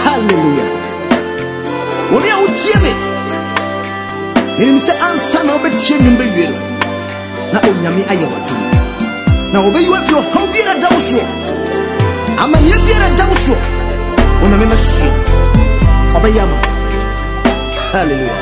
Hallelujah. Wɔn a wotie me, menim sɛ ansa na wobɛtie nnwom bɛwie no, na Onyame ayɛ w'adom. Na wɔbɛyi wo afiri ɔhaw biara da wo soɔ, amanneɛ biara da wo soɔ, Onyame bɛsoɛ, ɔbɛyɛ ama wo. Hallelujah.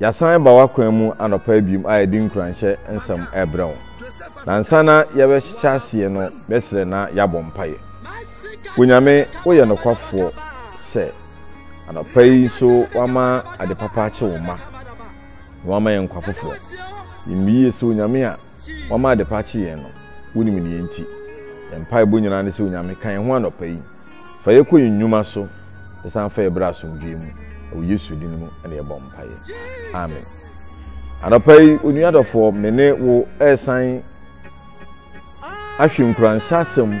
Yɛasan ba w'akwan mu anɔpa yi biom a yɛde nkuranhyɛ nsɛm ɛrebrɛ wo. Na nsa na yɛbɛhyɛ aseɛ no bɛsrɛ na yɛabɔ mpaeɛ. Onyame woyɛ nokwafoɔ sɛ anɔpa yi nso wama ade papa akye wo mma na wama yɛn nkwa foforɔ. Yɛmmiyie sɛ Onyame a Wama adepa akye yɛn no, wunim nea enti. Yɛn mpaebɔ nyinaa ne sɛ, Onyame, ka yɛn ho anɔpa yi. Fa yɛn kɔ yɛn nnwuma so, na san fa yɛn bra asomdwoe mu. Ɛwɔ Yesu din mu na yɛbɔ mpaeɛ. Amen. Anɔpa yi, onua dɔfoɔ, me ne wo resan ahwɛ nkuranhyɛ asɛm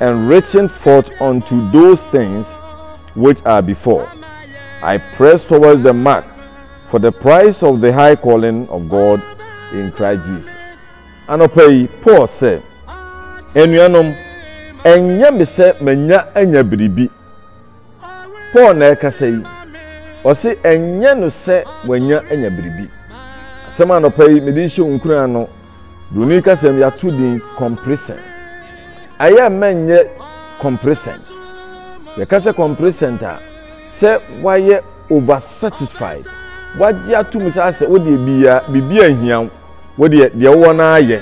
and reaching forth unto those things which are before, I press towards the mark for the price of the high calling of God in Christ Jesus. Anɔpa yi, Paul sɛ, Anuanom, ɛnyɛ me sɛ manya anya biribi. Paul na ɛkasa yi. Ɔse, ɛnyɛ no sɛ wanya anya biribi. Asɛm anɔpa yi, mede hyɛ wo nkuran no. Broni kasa mu yɛato din complacent. Ɛyɛ mma nyɛ complacent. Yɛka sɛ complacent a, sɛ wayɛ over satisfied. Wagye atom saa sɛ wodeɛ bia biribi anhia wo. Wodeɛ deɛ wowɔ no ayɛ.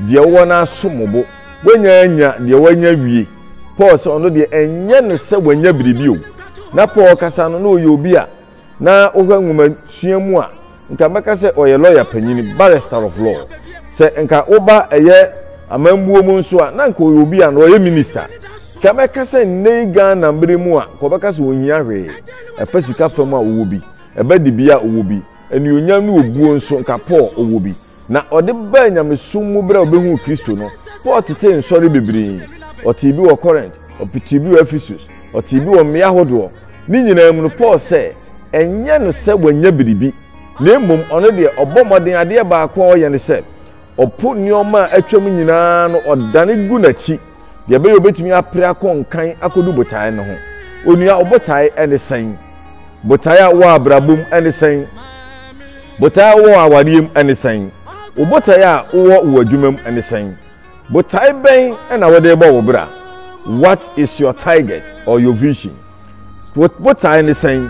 Deɛ wowɔ no asom bo. Woanya anya deɛ wanya wie. Paul sɛ ɔno deɛ ɛnyɛ no sɛ wanya biribi o. Na Paul kasa no na ɔyɛ obi a Na wohwɛ nwomasua mu a, nka mɛka sɛ ɔyɛ lɔya panyin, barrister of law. Sɛ nka woba ɛyɛ amambuo mu nso a, na nka ɔyɛ obi a na ɔyɛ minister. Nka mɛka sɛ nnɛ yi Ghana mmere mu a, nka wɔbɛka sɛ ɔnhia hwee. Ɛfa sika fam a, ɔwɔ bi. Ɛba dibea a, ɔwɔ bi. Anuonyam ne obuo nso, nka Paul, ɔwɔ bi. Na ɔde baa nyamesom mu berɛ a ɔbɛhuu Kristo no. Paul tetee nsɔre bebree. Ɔtee bi wɔ Corinth, ɔpetee bi wɔ Ephesus, ɔtee bi wɔ mmea ahodoɔ. Ne nyinaa mu no, Paul sɛ, ɛnyɛ no sɛ wanya biribi, na mmom ɔno deɛ, ɔbɔ mmɔden, adeɛ baako a ɔyɛ ne sɛ, ɔpo nneɛma a atwam nyinaa no, ɔdane gu n'akyi, Deɛ ɛbɛyɛ obetumi apere akɔ nkan akɔdu botaeɛ no ho. Onua, wo botaeɛ ne sɛn? Botaeɛ a wowɔ abrabɔ mu ne sɛn? Botaeɛ a wowɔ awareɛ mu ne sɛn? Wo botaeɛ a wowɔ wɔ adwuma mu ne sɛn? Botaeɛ bɛn na wode bɔ wo bra? What is your target or your vision? Wo botaeɛ ne sɛn?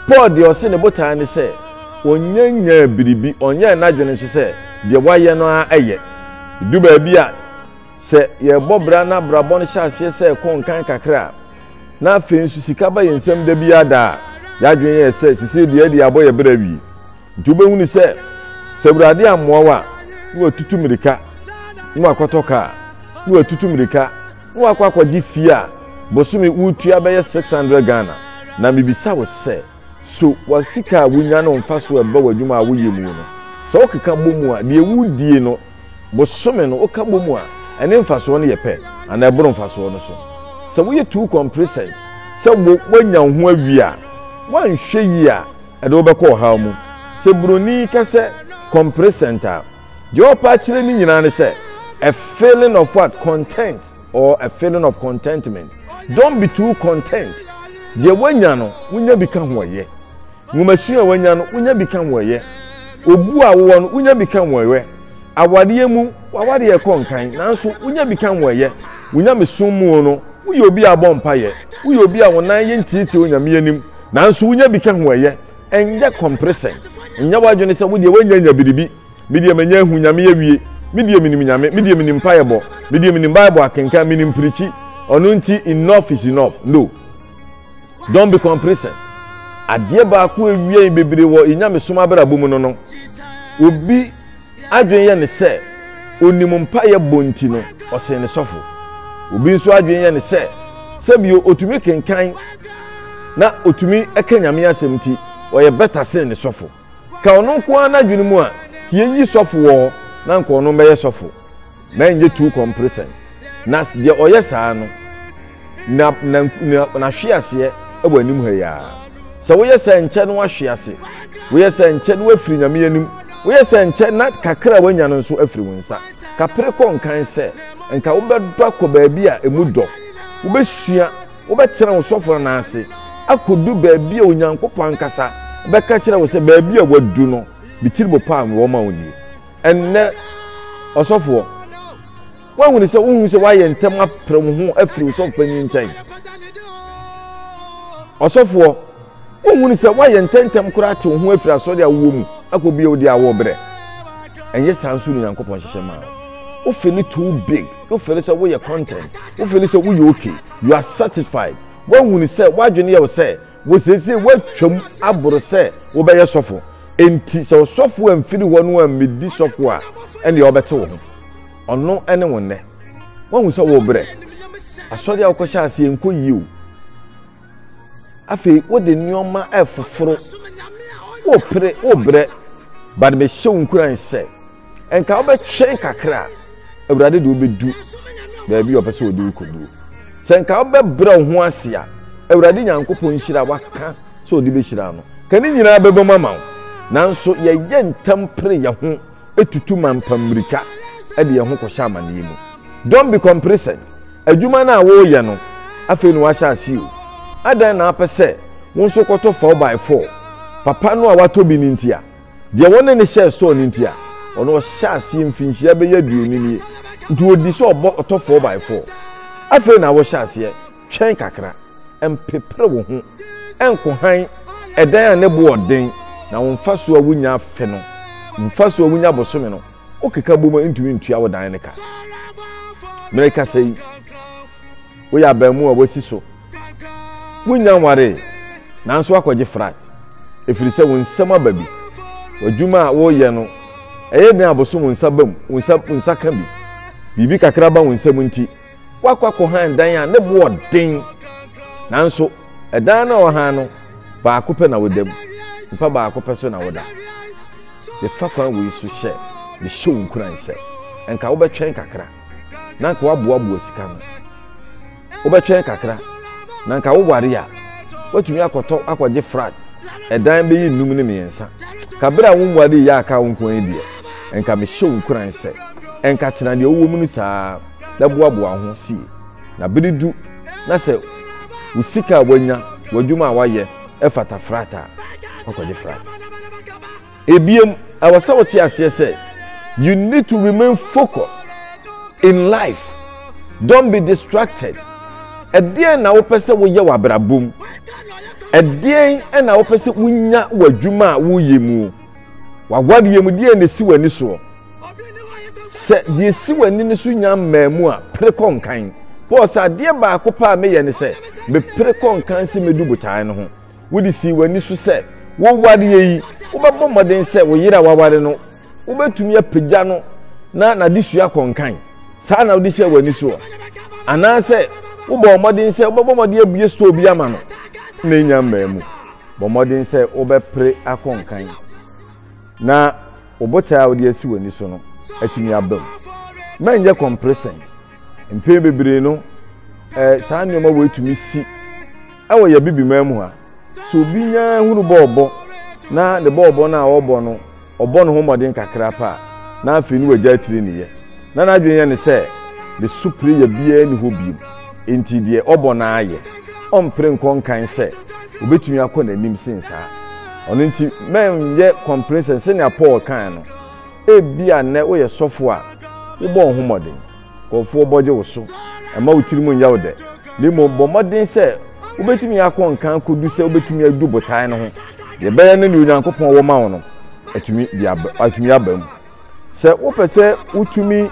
Paul deɛ ɔse ne botaeɛ ne sɛ ɔnyɛ nyaa biribi, ɔnyɛ n'adwene nso sɛ deɛ wayɛ no ara ɛyɛ. Du baabi a Sɛ yɛbɔ bra na abrabɔ no hyɛ aseɛ sɛ ɛkɔ nkan kakra a, na afei nso sika ba yɛn nsam da biara da a, yɛn adwene yɛ sɛ sesei deɛ ɛde abɔ yɛn bra awie. Nti wobɛhunu sɛ, sɛ Awurade ammoa wo a, na watutu mmirika na wakɔtɔ kaa, na watutu mmirika na wakɔ akɔgye fie a bosome wotua bɛyɛ 600 Ghana. Na mebisa wo sɛ, so w'asika a wonya no mfa so ɛba w'adwuma a woyɛ mu no? Sɛ wokeka bɔ mu a, deɛ wodie no, bosome no woka bɔ mu a, ɛne mfasoɔ no yɛ pɛ anaa ɛboro mfasoɔ no so. Sɛ woyɛ too complacent sɛ woanya wo ho awie a, woanhwɛ yie a, ɛde wobɛkɔ ɔhaw mu. Sɛ buroni ka sɛ complacent a, deɛ ɔpɛ akyerɛ ne nyinaa ne sɛ a feeling of what? Content or a feeling of contentment. Don't be too content. Deɛ woanya no, wonya bi ka ho ɔyɛ. Nwomasua a wanya no, wonya bi ka ho yɛ. Obu a wowɔ no, wonya bi ka ho yɛ. Awareɛ mu, w'awareɛ rekɔ nkan, nanso wonya bi ka ho yɛ. Wo nyamesom mu no, woyɛ obi a ɔbɔ mpaeɛ. Woyɛ obi a wo nan yɛ ntiatia Onyame anim, nanso wonya bi ka ho yɛ. Ɛnyɛ kɔmpresɛn. Nyɛ w'adwene sɛ wodeɛ woanyanya biribi. Me deɛ manya ahu Nyame awie. Me deɛ menim Nyame. Me deɛ menim mpaeɛbɔ. Me deɛ menim Bible akenkan. Menim pirikyi. Ɔno nti enough is enough. No. Don't be complacent. Adeɛ baako a ɛwia yɛn bebree wɔ yɛn nyamesom abrabɔ mu no no, obi adwene yɛ ne sɛ onim mpaeɛ bɔ nti no, ɔsen ne sɔfo. Obi nso adwene yɛ ne sɛ sɛbio otumi kenkan na otumi ka Nyame asɛm nti, ɔyɛ bɛta sen ne sɔfo. Ka ɔno nko ara n'adwene mu a, yɛnyi sɔfo wɔ hɔ na anka ɔno mmɛyɛ sɔfo. na ɛnyɛ too comprisent, na deɛ ɔyɛ saa no, na, na, na, n'ahwe aseɛ wɔ anim ha yi ara. Sɛ woyɛ sɛ nkyɛ na wahwe ase, woyɛ sɛ nkyɛ na wafiri Nyame anim, woyɛ sɛ nkyɛ na kakra a wanya no nso afiri wo nsa. Kapere kɔ nkan sɛ, nka wobɛdɔ akɔ baabi a emu dɔ, wobɛsua, wobɛtena wo sɔfo no nan ase, akɔdu baabi a Onyankopɔn ankasa bɛka kyerɛ wo sɛ, Baabi a wadu no, me tiribo paa mewɔ ma wo nie. Ɛnnɛ, ɔsɔfoɔ, woahunu sɛ wohu sɛ woayɛ ntɛm apere wo ho afiri wo sɔfo panyin nkyɛn? Ɔsɔfoɔ, wohunu sɛ woayɛ ntɛntɛm koraa te wo ho afiri asɔre a wowɔ mu akɔ bio de awɔ berɛ? Ɛnyɛ saa nso ne Nyankopɔn hyehyɛ maa wo. You feel it too big. You feel sɛ woyɛ content. You feel sɛ woyɛ okay. You are satisfied. Woahunu sɛ woadwene yɛ wo sɛ Wo seesei woatwam aboro sɛ wobɛyɛ sɔfo, enti sɛ ɔsɔfo amfiri hɔ no ammedi sɔfo a, ɛnneɛ ɔbɛte wo ho. Ɔno ne wo nnɛ. Woahu sɛ worebrɛ. Asɔre a wokɔhyɛ aseɛ nkɔ yie o. Afei wode nneɛma ɛfoforo, worepere, worebrɛ. But mehyɛ wo nkuran sɛ, Nka wobɛtwɛn kakra a, Awurade de wobɛdu baabi a ɔpɛ sɛ ɔde wokɔduru. Sɛ nka wobɛbrɛ wo ho ase a, Awurade Nyankopɔn nhyira waka sɛ ɔde bɛhyira no. Ka ne nyinaa bɛbɔ mu ama wo. Nanso yɛyɛ ntɛm pere yɛn ho tutu mampa mmirika de yɛn ho kɔhyɛ amanneɛ mu. Don't be complacent. Adwuma no a woreyɛ no, afei na wahyɛ ase o. Adɛn na apɛ sɛ wo nso kɔtɔ 4x4? Papa no a watɔ bi no nti a, Deɛ wɔne no hyɛɛ store no nti a, ɔno ɔhyɛ aseɛ mfinhyia bɛyɛ aduonu nie, nti ɔdi sɛ ɔbɔ ɔtɔ four by four. Afei na wohyɛ aseɛ twɛn kakra, mpepere wo ho, nko hann, ɛdan a ne bo wɔ den, na wo mfasoɔ a wonya afe no, mfasoɔ a wonya bosome no, wokeka bom a ɛntumi ntua wo dan no ka. Merekasa yi. Woyɛ abaamu a woasi so. Wunnya nwaree, nanso woakɔgye frat ɛfiri sɛ wo nsam aba bi. W'adwuma a woreyɛ no, ɛyɛ den a abosom wo nsa ba mu, wo nsa, wo nsa ka bi. Biribi kakra ba wo nsam nti, woakɔ akɔhan dan a ne boɔ den. Nanso, ɛdan no a wɔhan no, baako pɛ na woda mu. Mpa baako pɛ so na woda. Mefa kwan wei so hyɛ, mehyɛ wo nkuran sɛ, nka wobɛtwɛn kakra. na nka waboaboa sika no wobɛtwɛn kakra na nka woware a woatumi akɔtɔ akɔgye flat ɛdan bɛyɛ nnum ne mmiɛnsa ka bere a wo mmoa de yɛ aka wo nko yi deɛ nka mehyɛ wo nkuran sɛ nka tena deɛ wowɔ mu no saa na boaboa ho sie na bere du na sɛ wo sika a wanya w'adwuma a wayɛ ɛfata flat a wakɔgye flat Ebia ɛwɔ sɛ wote aseɛ sɛ you need to remain focused in life. Don't be distracted. Ɛdeɛn na wopɛ sɛ woyɛ wɔ abrabɔ mu? Ɛdeɛn na wopɛ sɛ wonya wɔ adwuma a woyɛ mu? W'awadeɛ mu deɛn na ɛsi w'ani soɔ? Sɛ deɛ ɛsi w'ani no so nya mmaa mu a, pere kɔ nkan. Paul sɛ adeɛ baako paa meyɛ ne sɛ mepere kɔ nkan sɛ mɛdu botae no ho. Wode sii w'ani so sɛ wo awareɛ yi, wobɛbɔ mmɔden sɛ wo yere a waware no, wobɛtumi apagya no na n'adesua akɔ nkan. Saa na wode hyɛɛ w'ani soɔ. Anaasɛ wobɔɔ mmɔden sɛ wobɛbɔ mmɔden abue store bi ama no na ɛnya mmaa mu. Bɔ mmɔden sɛ wobɛpere akɔ nkan na wo botae a wode asi w'ani so no atumi aba mu. Mɛnyɛ kɔmperesɛn. Mpɛn bebree no, ɛɛ saa nneɛma wei tumi si ɛwɔ yɛ bibiman mu ha. So obi nya hunu bɔɔlbɔ na ne bɔɔlbɔ no a ɔbɔ no, ɔbɔ ne ho mmɔden kakra paa na afei ne wagya atiri ne yɛ. Na n'adwene yɛ ne sɛ ne so pere yɛ biara ni hɔ biom, enti deɛ ɔbɔ no ara yɛ. Ɔmpere nkɔ nkan sɛ obetumi akɔ n'anim sen saa. Ɔno nti, mɛnyɛ kɔmpere sɛ sɛnea Paul kae no, Ebia nnɛ woyɛ sɔfo a wobɔ wo ho mmɔden. Nkurɔfoɔ bɔgye wo so. Mma wo tirim nyɛ wo dɛ, na mmom bɔ mmɔden sɛ wobɛtumi akɔ nka akɔdu sɛ wobɛtumi adu botae no ho. Deɛ ɛbɛyɛ ne deɛ Onyankopɔn wɔ ma wo no atumi aba mu. Sɛ wopɛ sɛ wotumi.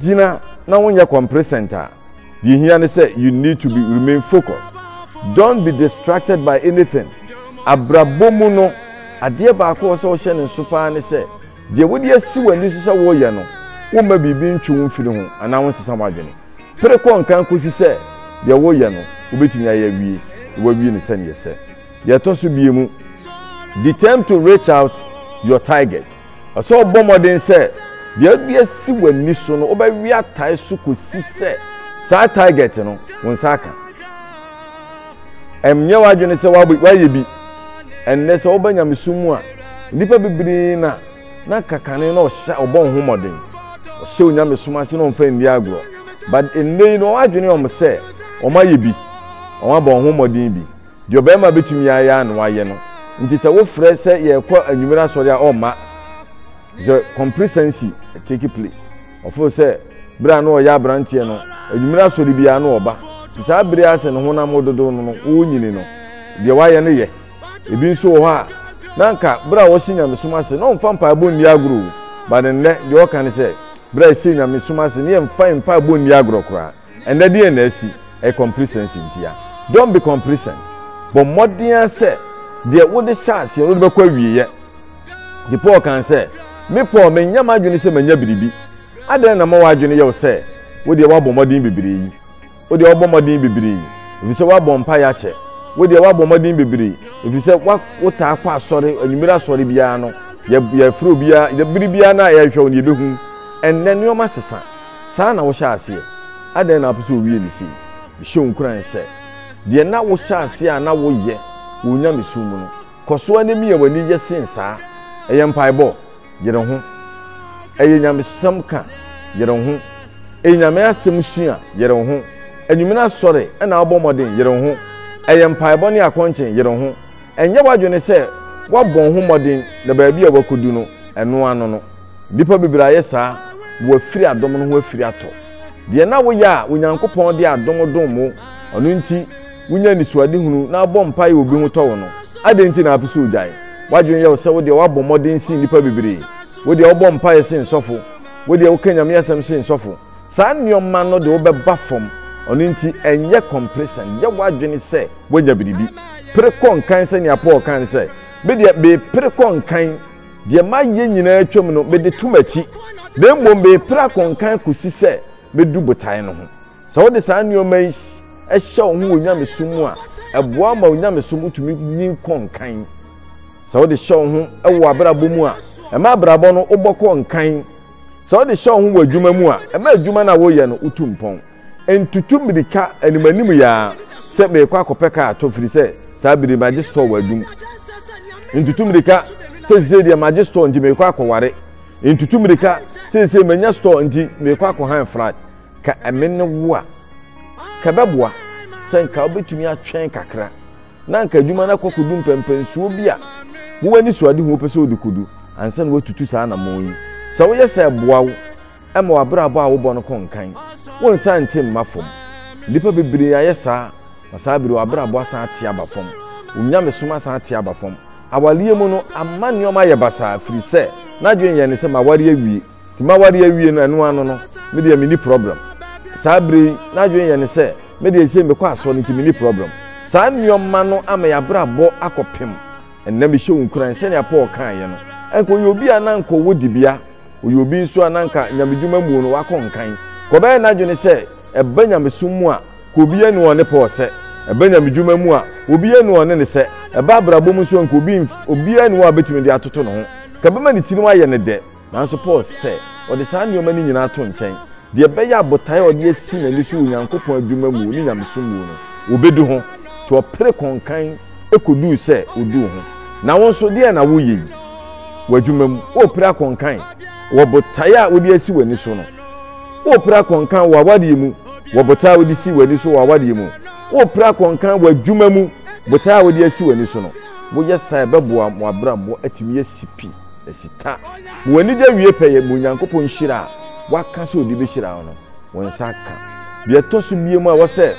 gyina na wonyɛ complacent a deɛ hia ne sɛ you need to be remain focused don't be distracted by anything abrabɔ mu no adeɛ baako wɔ sɛ wohyɛ ne nso paa ne sɛ deɛ wode asi w'ani so sɛ woyɛ no womma biribi ntwe wo mfiri ho anaa wonsesa w'adwene pere kɔ nkan kɔsi sɛ deɛ woyɛ no wobɛtumi ayɛ awie na wawie no sɛneɛ sɛ deɛ ɛtɔ so bie mu determine to reach out your target Ɛsɛ sɛ ɔbɔ mmɔden sɛ deɛ wode asi w'ani so no wobɛwe atae so kɔsi sɛ saa target no wo nsa aka ɛmnyɛ w'adwene sɛ woayɛ bi ɛnnɛ sɛ woba nyamesom mu a nnipa bebree na na kakane na ɔhyɛ ɔbɔ ho mmɔden ɔhyɛ onyamesom ase na ɔmfa nni agorɔ but ɛnnɛ yi na wɔadwene ɔm sɛ wɔayɛ bi wɔabɔ ho mmɔden bi Deɛ ɔbarima bɛtumi ayɛ ara na wayɛ no nti sɛ wofrɛ sɛ yɛrekɔ anwummere asɔre a ɔmma. Sɛ compresancy take place. Ɔfo sɛ berɛ a na ɔyɛ aberanteɛ no anwummere asɔre biara na ɔba. Nti saa bere a sɛ ne honam wo dodo no no wonyini no deɛ wayɛ no yɛ. Ebi nso wɔ hɔ a na anka berɛ a ɔhyɛ nyamesom ase na ɔmfa mpaebɔ nni agorɔ o but nnɛ deɛ ɔka ne sɛ berɛ a ɛhyɛ nyamesom ase ne yɛmfa mpaebɔ nni agorɔ koraa. Ɛnnɛ deɛn na asi? Ɛyɛ complacency ntia. Don't be complacent. Bɔ mmɔden ara sɛ deɛ wode hyɛ aseɛ no wode bɛkɔ awieɛ. Nti Paul kaa sɛ, Me Paul, mennya m'adwene sɛ manya biribi. Adɛn na ma w'adwene yɛ wo sɛ wo deɛ woabɔ mmɔden bebree yi? Wo deɛ woabɔ mmɔden bebree ɛfiri sɛ woabɔ mpaeɛ akyɛ. Wo deɛ woabɔ mmɔden bebree ɛfiri sɛ wotaa kɔ asɔre, anwummere asɔre biara no, yɛfrɛ obiara, bere biara no a yɛhwɛ wo no yɛbɛhu. Ɛnnɛ nneɛma sesa. Saa na wohyɛɛ aseɛ, adɛn na wopɛ sɛ wowie no sei? Mehyɛ wo nkuran sɛ, deɛ na wohyɛ aseɛ a na woyɛ wɔ onyamesom mu no, kɔ so ara na mia w'ani yɛ sen saa. Ɛyɛ mpaebɔ? Yere ho. Ɛyɛ nyamesɛm ka? Yere ho. Ɛyɛ Nyame asɛm sua? Yere ho. Anwummere asɔre na wobɔ mmɔden? Yere ho. Ɛyɛ mpaebɔ ne akɔnkyen? Yere ho. Ɛnyɛ w'adwene sɛ woabɔ wo ho mmɔden na baabi a woakɔdu no, ɛno ano no, Nnipa bebree ayɛ saa na wɔafiri adom no ho afiri atɔ. Deɛ na woyɛ a Onyankopɔn de adom dom wo, ɔno nti wonya anisoadehunu na wobɔ mpaeɛ a obi ho tɔ wo no, adɛn nti na wopɛ sɛ wogyae? W'adwene yɛ wo sɛ wodeɛ woabɔ mmɔden sen nnipa bebree, wodeɛ wobɔ mpaeɛ sen sɔfo, wodeɛ woka Nyame asɛm sen sɔfo. Saa nneɛma no de wo bɛba fam, ɔno nti ɛnyɛ kɔmplesɛn, yɛ w'adwene sɛ woanya biribi. Pere kɔ nkan sɛnea Paul kae no sɛ, Medeɛ mepere kɔ nkan. Deɛ mayɛ nyinaa atwam no, mede to m'akyi, na mmom merepira akonkan kɔsi sɛ mɛdu botaeɛ no ho. Sɛ wode saa nneɛma yi hyɛ wo ho wɔ nyamesom mu a, ɛboa wo ma wo nyamesom tumi nyin kɔ nkan. Sɛ wode hyɛ wo ho wɔ w'abrabɔ mu a, ɛma abrabɔ no wobɔ kɔ nkan. Sɛ wode hyɛ wo ho wɔ adwuma mu a, ɛma adwuma no a woreyɛ no wotu mpɔn. Ntutu mmirika animanim yi ara sɛ merekɔ akɔpɛ kaa atɔ firi sɛ saa bere magye store wɔ adum. Ntutu mmirika sɛ sisei deɛ magye store nti merekɔ akɔware. Ntutu mmirika sɛ sisei manya store nti merekɔ akɔhan flat. Ka ɛme ne wo a, ka ɛbɛboa sɛ nka wobɛtumi atwɛn kakra na nka adwuma no akɔ akɔdu mpɛmpɛnsoɔ bi a wo anisoadehu wopɛ sɛ wode kɔdu ansa na woatutu saa anammɔn yi. Sɛ woyɛ saa ɛboa wo. Mma w'abrabɔ a wobɔ no ko nnkan wo nsa nte mma fam. Nnipa bebree ayɛ saa, na saa bere yi w'abrabɔ asan ate aba fam, wo nyamesom asan ate aba fam. Awareɛ mu no, ama nneɛma ayɛ basaa firi sɛ n'adwene yɛ ne sɛ maware awie, nti maware awie no ɛno ano no me deɛ menni problem. Saa bere yi n'adwene yɛ ne sɛ me deɛ sei mekɔ asɔre nti menni problem. Saa nneɛma no ama y'abrabɔ akɔ pem. Ɛnnɛ mehyɛ wo nkuran sɛnea Paul kaeɛ no, anka ɔyɛ obi a na anka ɔwɔ dibea, Ɔyɛ obi nso a na anka nyamedwuma mu no wakɔ nkan. Ka ɔbɛyɛ n'adwene sɛ ɛba nyamesom mu a, ka obi anu ɔne Paul sɛ ɛba nyamedwuma mu a, obi anu ɔne no sɛ ɛba abrabɔ mu nso a, nka obi obiara nni hɔ a ɔbɛtumi de atoto ne ho. Ka ɛbɛma ne tirim ayɛ no dɛ. Nanso Paul sɛ ɔde saa nneɛma no nyinaa to nkyɛn. Deɛ ɛbɛyɛ a botae a ɔde asi n'ani so wɔ Onyankopɔn adwuma mu ne nyamesom mu no, ɔbɛdu ho. To ɔpere kɔ nkan. koduu sɛ oduu ho. Na wo nso, deɛn na woyɛ yi? W'adwuma mu, worepere akɔnkan wɔ botae a wode asi w'ani so no? Worepere akɔnkan wɔ awadeɛ mu wɔ botae a wode si w'ani so wɔ awadeɛ mu? Worepere akɔnkan wɔ adwuma mu botae a wode asi w'ani so no? Woyɛ saa a, ɛbɛboa mo abrabɔ atumi asi pi, asi ta, ma w'anigye awie pɛyɛ, ma Onyankopɔn nhyira a Waka sɛ Ɔde bɛhyira wo no, wo nsa aka. Deɛ ɛtɔ so mmienu a ɛwɔ sɛ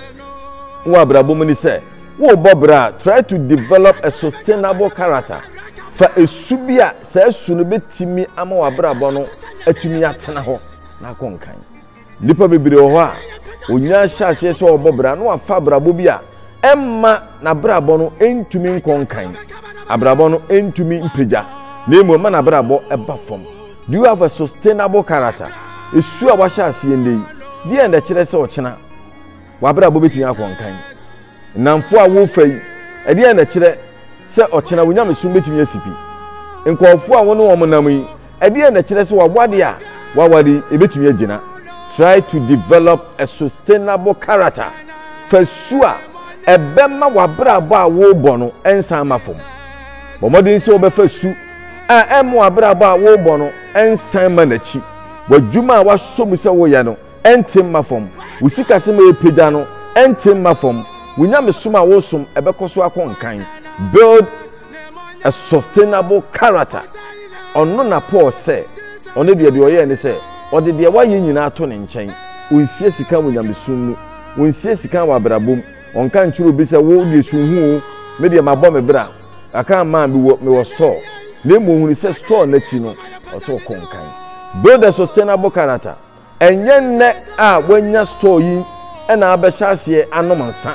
wowɔ abrabɔ mu ne sɛ, Worebɔ bra a, try to develop a sustainable character. Fa esu bi a saa su no betumi ama w'abrabɔ no atumi atena hɔ na akɔ nkan. Nnipa bebree wɔ hɔ a, onyaa hyɛ aseɛ sɛ ɔrebɔ bra na wafa abrabɔ bi a ɛmma n'abrabɔ no ntumi nkɔ nkan. Abrabɔ no ntumi mpagya, na mmom ɛma n'abrabɔ ɛba fam. Do you have a sustainable character? Esu a wahyɛ aseɛ nnɛ yi, deɛ na ɛkyerɛ sɛ ɔkyena W'abrabɔ betumi akɔ nkan. Nnamfo a worefa yi, ɛdeɛn na ɛkyerɛ sɛ ɔkyena wo nyamesom betumi asi pi? Nkurɔfo a wo ne wɔn nam yi, ɛdeɛn na ɛkyerɛ sɛ w'aware a woaware yi, ebetumi agyina? Try to develop a sustainable character, Fa su a ɛbɛma w'abrabɔ a worebɔ no nsan mma fam. Bɔ mmɔden sɛ wobɛfa su a ɛremma w'abrabɔ a worebɔ no nsan mma n'akyi. W'adwuma a woasɔ mu sɛ woyɛ no, ɛnte mma fam. Wo sikasɛm a ɛrepagya no, ɛnte mma fam. Wo nyamesom a woresom, ɛbɛkɔ so akɔ nkan. Build a sustainable character. Ɔno na Paul sɛ, ɔno deɛ deɛ ɔyɛɛ ne sɛ, ɔde deɛ wayɛ nyinaa to ne nkyɛn. Ɔnsie sika wɔ nyamesom mu. Ɔnsie sika wɔ abrabɔ mu. Ɔnka nkyerɛ obi sɛ, wo deɛ si wo ho o, me deɛ mabɔ me bra, aka ama a mewɔ, mewɔ store. Na mmom ɔhunu sɛ store no akyi no, ɔsɛ ɔkɔ nkan. Build a sustainable character. Ɛnyɛ nnɛ a woanya store yi na abɛhyɛ aseɛ anom nsa,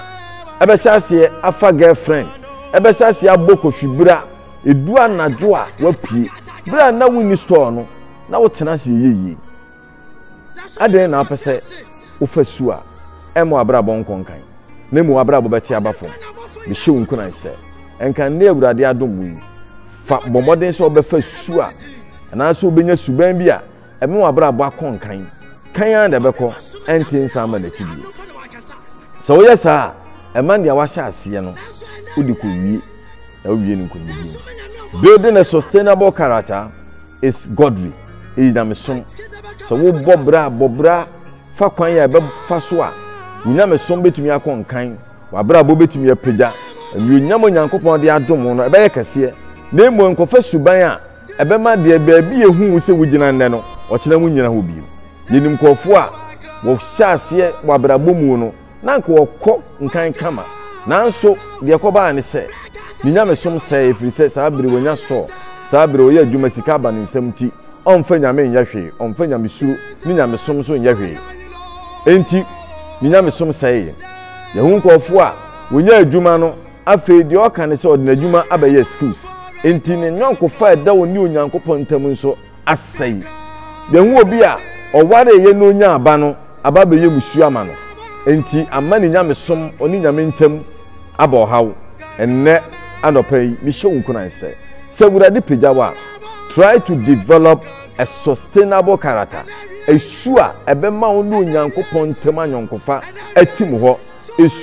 abɛhyɛ aseɛ afa girl friend, abɛhyɛ aseɛ abɔ kɔhwi berɛ a ɛdu anadwo a woapue. Berɛ a na wonni store no, na wotena ase yɛ yie. Adɛn na wopɛ sɛ wofa su a ɛmma w'abrabɔ nkɔ nkan, na mmom w'abrabɔ bɛte aba fam? Mehyɛ wo nkuran sɛ, nka nnɛ Awurade adom mu yi, fa bɔ mmɔden sɛ wobɛfa su a anaasɛ wobɛnya suban bi a ɛma w'abrabɔ akɔ nkan kan ara na ɛbɛkɔ ɛnte nsa ama n'akyi bio sɛ woyɛ saa a ɛma nea wahyɛ aseɛ no wode kɔwie na wowie no nkonimdie mu building a sustainable character is godly ɛyɛ nyamesom sɛ wobɔ bra bɔ bra fa kwan a ɛbɛfa so a wonyamesom bɛtumi akɔ nkan w'abrabɔ bɛtumi apagya anuonyam onyankopɔn de adom no ɛbɛyɛ kɛseɛ na mmom nkɔfa suban a ɛbɛma deɛ baabi ehu wo sɛ wogyina nnɛ no, ɔkyena wonnyina hɔ bio. Yɛnim nkurɔfoɔ a wɔhyɛɛ aseɛ wɔ abrabɔ mu no, na anka wɔkɔ nkan kama, nanso deɛ ɛkɔbaa ne sɛ, ne nyamesom sɛee ɛfiri sɛ saa bere wanya store, saa bere ɔyɛ adwuma sika aba ne nsam nti, ɔmfa Nyame nyɛ hwee, ɔmfa nyamesuro ne nyamesom nso nyɛ hwee. Enti ne nyamesom sɛee. Yɛahu nkurɔfoɔ a wɔnya adwuma no, Afei deɛ ɔka ne sɛ ɔde n'adwuma abɛyɛ excuse nti ne nyɔnkofa a ɛda ɔne Onyankopɔn ntam nso asɛe. Yɛahu obi a ɔwareeɛ na ɔnyaa aba no aba abɛyɛ mmusuo ama no, enti ama ne nyamesom ɔne Nyame ntam aba ɔhaw. Ɛnnɛ anɔpa yi, mehyɛ wo nkuran sɛ, sɛ Awurade pagya wo a, try to develop a sustainable character, su a ɛbɛma wo ne Onyankopɔn ntam anyɔnkofa atim hɔ.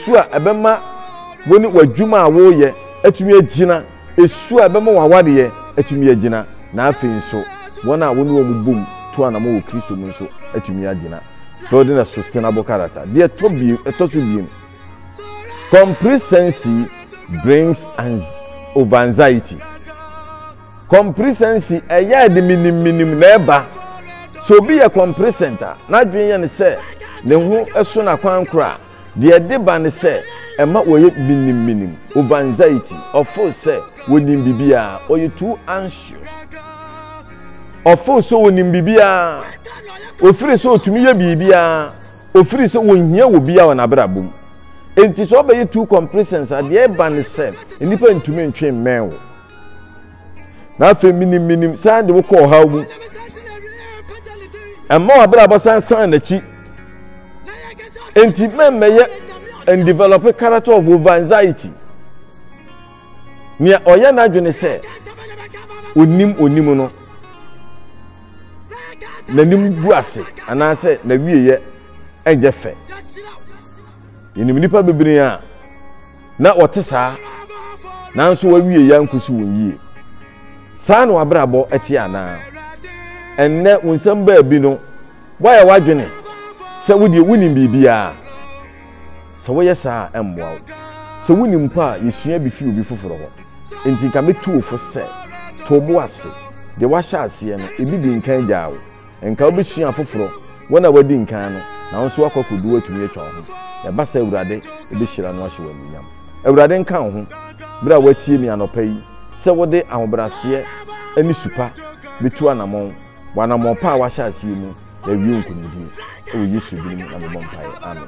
su a ɛbɛma wo ne w'adwuma a woreyɛ atumi agyina, su a ɛbɛma w'awareɛ atumi agyina, na afei nso wɔn a wo ne wɔn bom tu anamɔ wɔ Kristo mu nso atumi agyina. Building a Sustainable Character. Deɛ ɛtɔ so biem, complacency brings over anxiety. Compresency, ɛyɛ a ɛde menim menim na ɛba. Sɛ obi yɛ compresent a, n'adwene yɛ no sɛ ne ho so no akwan koro a, deɛ ɛde ba ne sɛ ɛma wɔyɛ menim menim, overanxiety, ɔfeel sɛ wɔnim biribiara, ɔyɛ too anxious. Ɔfeel sɛ wɔnim biribiara, ofiri sɛ ɔtumi yɛ biribiara, ofiri sɛ wɔnhia wɔ biara wɔ n'abrabɔ mu. Enti sɛ ɔbɛyɛ too compresent a, deɛ ɛba ne sɛ nnipa ntumi ntwe mmɛn wo. na afei menim menim san de wokɔ ɔhaw mu ɛma w'abrabɔ san san n'akyi nti mɛmmɛyɛ and develop a character of over anxiety nea ɔyɛ n'adwene sɛ onim onim no n'anim gu ase anaasɛ n'awieɛ ɛnyɛ fɛ yɛnim nnipa bebree a na wɔte saa, nanso wɔawieeɛ ankosi wɔn yie. Saa na w'abrabɔ te anaa? Ɛnnɛ, wo nsɛm baabi no, woayɛ w'adwene sɛ wodeɛ wonim biribiara. Sɛ woyɛ saa a, ɛmmoa wo. Sɛ wonim mpo a, yɛsua bi fi obi foforɔ hɔ. Enti nka mɛtu wo fo sɛ, to wo bo ase. Deɛ woahyɛ aseɛ no, ebi di nkan gyaa wo. Nka wobɛsua afoforɔ, wɔn a wɔadi nkan no, na wo nso woakɔ akɔdu hɔ atumi atwa wo ho. Ɛba saa a, Awurade bɛhyira no ahyɛ wo anuonyam. Awurade nka wo ho, berɛ a woatie me anɔpa yi, sɛ wode ahobrɛaseɛ ne su pa bɛtu anamɔn wɔ anamɔn pa a woahyɛ aseɛ mu, na awie wo nkonimdie. Wɔ Yesu din mu na mebɔ mpaeɛ, amen.